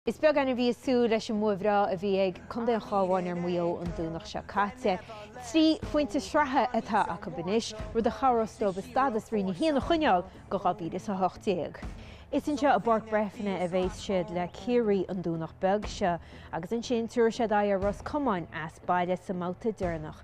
Is beag duine a bhí ag súil leis an mbua bhreá a bhí ag contae an Chabháin ar Mhaigh Eo an Domhnach seo caite. Trí phointe sraithe atá acu anois, rud a chabhrós leo a stádas Roinn 1 a choinneáil go 2018. Is anseo i bPáirc Breifne a bheas siad le Ciarraí an Domhnach beag seo agus ansin tabharfaidh siad aghaidh ar Ros Comáin as baile sa mbabhta deireanach.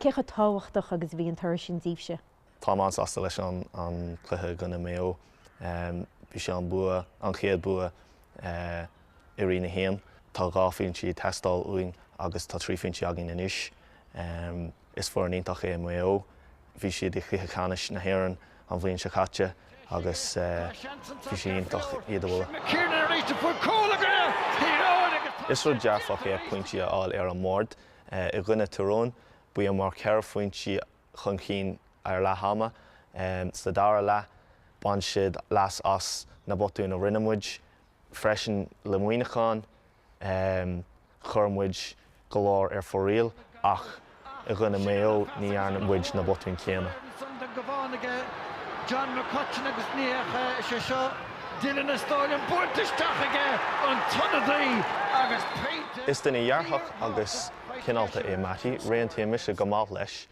Cé chomh tábhachtach agus a bhí an toradh sin díbhse? Tá mé an-sásta leis an chluiche i gcoinne Maigh Eo. Bhí sé an bua, an chéad bua i Roinn 1. Tá dhá phointe ag teastáil uainn agus tá trí phointe againn anois. Is foireann iontach é Maigh Eo. Bhí siad i gCluiche Ceannais na hÉireann an bhliain seo caite agus bhí sé iontach iad a bhualadh. Is rud dearfach é pointí a fháil ar an mbord. I gcoinne Tyrone, bhíomar ceithre phointí chun cinn ar leath ama sa dara leath, bain siad leas as na botúin a rinne muid freisin le Muineachán. Chuir muid go leor ar fóraoil ach i gcoinne Maigh Eo ní dhearna muid na botúin céanna. son den gCabhán aige, John McCutcheon agus ní fheicfeá is é seo Dillon is dóigh liom bainte isteach aige an t-ionadaí agus pointe Is duine dhearfach agus cineálta é Mattie, réitíonn mise go maith leis.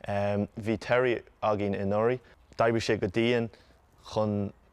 Bhí Terry againn anuraidh, d'oibrigh sé go dian chun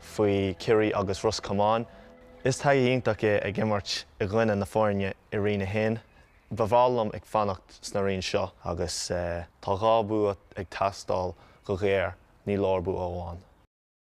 faoi Chiarraí agus Ros Comáin. Is taithí iontach é ag imirt i gcoinne na foirne i Roinn 1. Ba bhreá liom ag fanacht sna roinn seo. Agus tá dhá bua ag teastáil go ghéar, ní leor bua amháin.